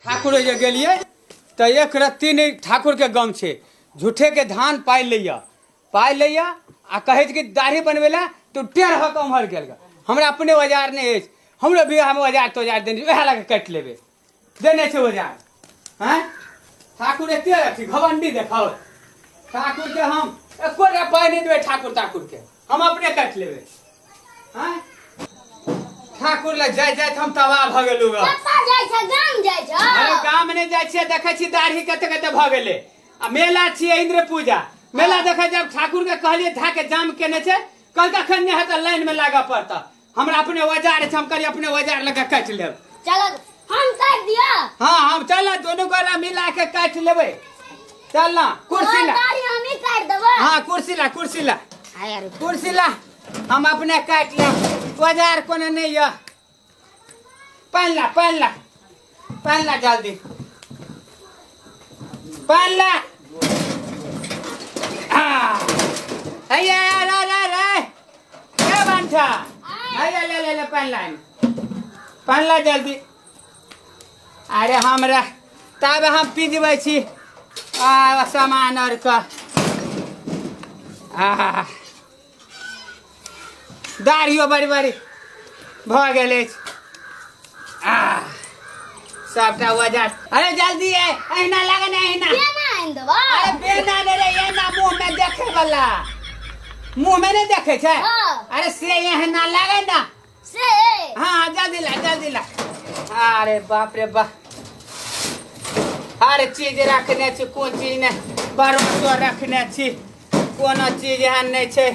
ठाकुर जे गेलियै तऽ एक रत्ती नहि ठाकुरके गम छै झूठेके धान पाइ लैया पाइ लैया आ कहै छै कि दाढ़ी बनबै लए तऽ टेढ़ भऽ कऽ ओम्हर गेल गा। हमरा अपने औजार नहि अछि हमरो बियाहमे औजार तौजार देने छै, उएह लऽ कऽ काटि लेबै देने छै औजार आँय ठाकुर एते अथी घमंडी देखाओ ठाकुरके हम एको टा पाइ नहि देबै ठाकुर ताकुरके हम अपने काट लेबे हाँ? ठाकुर लग जाय जाय हम तबाह भ गेलू ग कत्ता जाइ छ गाम जाइ छ अरे गाम ने जाय छियै देखै छी दाढ़ी कते कते भ गेले आ मेला छियै इंद्र पूजा मेला देखै जब ठाकुर के कहलिए धा के जाम केने छै कल कखन ने हेतै लाइन में लागऽ पड़ता हमरा अपने औजार छै हम कहलियै अपने औजार लऽ कऽ काटि लेब चलो हम काट दिया हाँ हम चल दोनों गोला मिला के काट लेबै चल ना कुर्सी ला गाड़ी हम ही काट देबो हाँ कुर्सी ला कुर्सी ला हाय यार कुर्सी ला हम अपने काट लेब औजार कोनो नहीं यऽ पानि ला पानि ला पानि ला जल्दी पानि ला आ, हैया रे रे रे के बांठा हैया ले ले ले पानि ला एमे। पानि ला जल्दी अरे हमरा तब हम पिजबै छी आ सामान आरके आहा दाढ़ियो बड़ी बड़ी भऽ गेल अछि आ सबटा वजह अरे जल्दी आय अहिना लगे ने अहिना केना आनि देबै अरे बेना ने रे एना मुंह में देखे वाला मुंह में नहीं देखे छै हाँ। अरे से एहना लगे ना से हाँ जल्दी ला जल्दी ला अरे बाप रे बाप हर चीज रखने छी कोन चीज ने भरोसो रखने छी कोनो चीज एहन नहि छै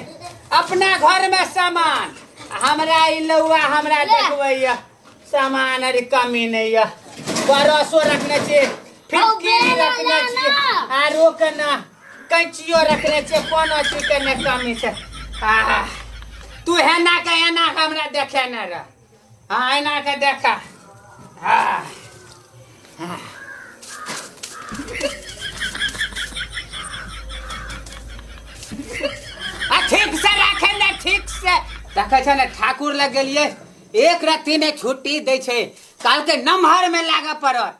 अपना घरमे सामान हमरा ई लौआ हमरा ले। देखबैया सामान अरे कमी नहि यऽ भरोसो रखने छी फिटकिरी बेला रखने छी लाना। आरो केना कैचियो रखने छे कोनो चीज के ने कमी छे आहा तू हेना के एना के हमरा देखे न रह हाँ एना के देखा आहा आहा। आ ठीक से रखे ने ठीक से देखे छे ने ठाकुर लग गेलिए एक राति ने छुट्टी दे छे काल के नमहर में लागे पड़त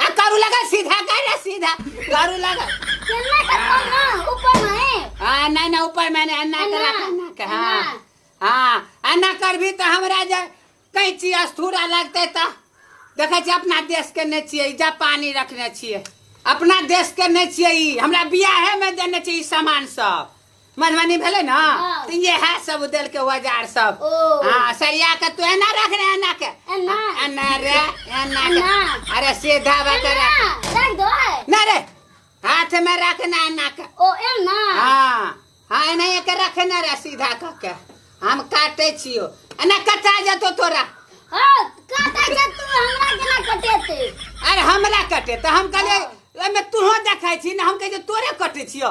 आ करू लगा सीधा कर रे सीधा करू लगा चलना का फोन ना ऊपर में है हाँ नहीं ना ऊपर मैंने अन्ना अन्ना, करा अन्ना के हाँ अन्ना। हाँ अन्ना कर भी तो हमरा जे कहीं चीज अस्थूरा लगते तो देखे छी अपना देश के नहीं छिए जा पानी रखने छिए अपना देश के नहीं छिए ई हमरा बियाहे में देने छिए ई सामान सब मधुबनी भेलै ने हाँ। तऽ इएह सब देलकै औजार सब ओ। हाँ सरिया के तू एना रख रे एना के एना। एना रे एना के एना। अरे सीधा बात रे एना, रख दो है। ना रे हाथ में रखना एना के ओ एना हाँ हाँ एना के रखना रे सीधा क के हम काटे छियो एना कटा जतो तोरा हाँ, काटा जा तू हमरा केना कटेते अरे हमरा कटे तऽ हम कहलियै ओहिमे तूहो देखै छी ने हम कहै छी तोरे कटे छियो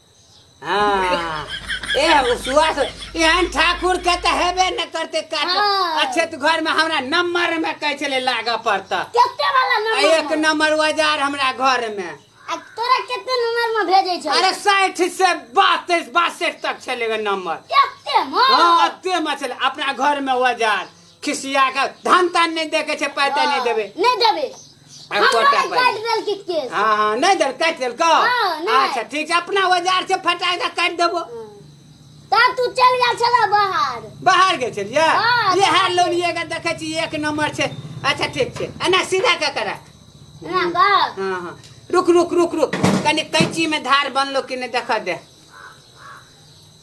हाँ ए सुहास एहन ठाकुर के तऽ हेबे न करते काट हाँ। अच्छे तो घर में हमरा नंबर में कहे छले लागऽ पड़ता केते वाला आ नंबर एक में? नंबर औजार हमरा घर में आ तोरा केते नंबर में भेजे छै अरे साठि से बासठ बासठ तक छले गे नंबर केते में हाँ अते में छले अपना घर में औजार खिसिया के धन तन नहीं देखे छे पैसा नहीं देबे नहीं देबे आ, हमरा कोटा पर। काट देल के केस हाँ हाँ नहीं देल काट देल को हाँ, नहीं। अच्छा ठीक है अपना औजार से फटा के काट देबो ता तू चल गेल छला बाहर बाहर गेल छलिए हाँ, ये हार बाहर लोन ये के देखे छी एक नंबर छे अच्छा ठीक छे एना सीधा के करा ना का हाँ हाँ रुक रुक रुक रुक कनी कैंची में धार बनलो कि नहीं देखा दे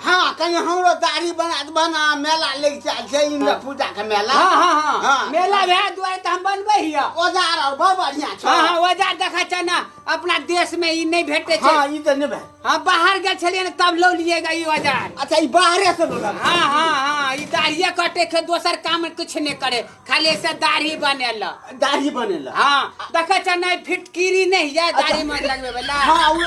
हाँ कहीं हमरो दाढ़ी बना दे बना मेला लग जा छै इन्द्र हाँ। पूजा के मेला हाँ हाँ हाँ, हाँ। मेला भए दुआरे त हम बनबै हिया औजार और बहुत बढ़िया छै हाँ हाँ औजार देखा छै ना अपना देश में ई नहीं भेटे छै हाँ ई त नहीं भेट हाँ बाहर गेल छलिए ना तब लो लिएगा ई औजार अच्छा ई बाहरे से लो हाँ हाँ हाँ ई दाढ़िए कटे छै दोसर काम कुछ नहीं करे खाली से दाढ़ी बनेल दाढ़ी बनेला हाँ देखे छ नहीं फिटकिरी नहीं है दाढ़ी में लगबे वाला हाँ, उ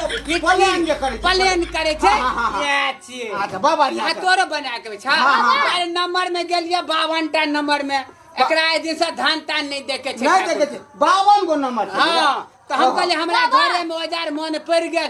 प्लेन जे करै छै। प्लेन करे छे हाँ, हाँ, हाँ। ये छिए अच्छा बा बढ़िया आ तोरो बना के छ हाँ, हाँ। अरे नंबर में गेलिए 52 टा नंबर में एकरा ए दिन से धान तान नहीं देखे छे नहीं देखे छै बावन गो नंबर छै हाँ तो हम कहले हमरा बाबा। घरे में औजार मन पड़ गेल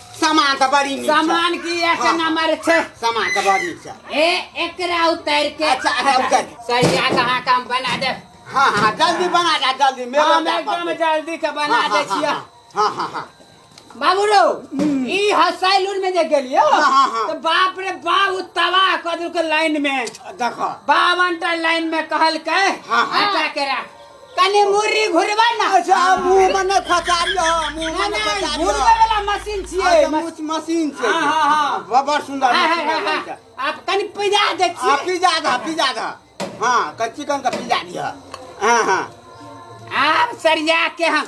सामान तऽ बड़ी नीक छै। सामान की एक हाँ। नंबर छै सामान तऽ बड़ नीक छै ए एकरा उतार के अच्छा, अच्छा, उतार। सरिया के अहाँ काम बना दे हाँ हाँ जल्दी बना जा जल्दी मेरे हम जा एकदम पड़तै। जल्दी के बना हाँ, दे हाँ, छियै हाँ, हाँ हाँ हाँ बाबू रो ई हसैलून में जे गेलियो हाँ, हाँ, हाँ। तो बाप रे बाप उ तबाह कर देलकै लाइन में देखो बावन टा लाइन में कहलकै हाँ, हाँ। हटा के राख कने मुर्री घुरबा ना अच्छा मुंह में न खचारियो मुंह में न खचारियो घुरबे वाला मशीन छिए मुछ मशीन छै हां हां हां बड़ सुंदर मशीन आप कनी पिजा दे छी आप पिजा दा पिजा दा हां कच्ची कन का पिजा दिया हां हां आप सरिया के हम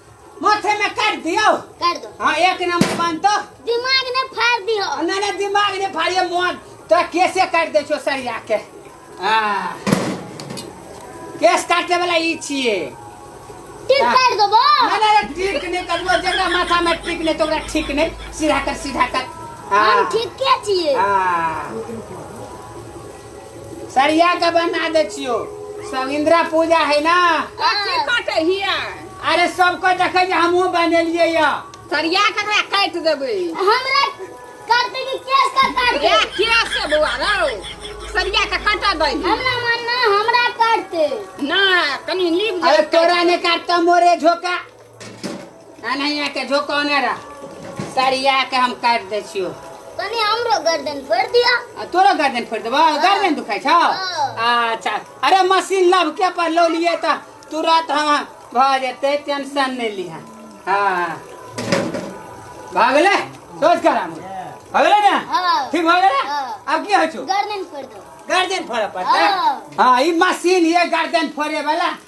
माथे में काट दियो कर दो हाँ एक नंबर बनतो दिमाग ने फाड़ दियो ना ना दिमाग ने फाड़िए मोहन तोरा केसे काट दे छो सरिया के आ केस काटे वाला ई छिए टिक हाँ। कर दो बो ना ना ना, ठीक नहीं करबो जेकरा माथा में ठीक नहीं तो ओकरा ठीक नहीं सीधा कर सीधा कर आ, हम ठीक के छिए आ सरिया के बना दे छियो सब इंदिरा पूजा है ना कथी कटे हिया अरे सबको देखे जे हमहू बनेलिए या सरिया के एकरा काट देबे हमरा करते कि केस का काट ए किया से बुआ रौ सरिया के कटा दे हमरा मन ना हमरा काटते ना कनी लीप अरे तोरा ने काटता मोरे झोका एनाहिए के झोकौने रह सरिया के हम काटि दै छियौ कनी हमरो गर्दन फोड़ दिया आ तोरो गर्दन फोड़ि देबौ गर्दन दुखाइ छौ हँ। अच्छा अरे मशीन लब के पर लो लिए तऽ तुरंत हम भऽ जेतै टेंशन नहि लिह हँ भऽ गेलै सोच कर हम भऽ गेलै ने हँ। ठीक भऽ गेलै हँ। आब की होइ छौ गर्दन फोड़ दो गर्दन फोड़ऽ पड़तै हँ। हँ ई मशीन ये गर्दन फोड़े वाला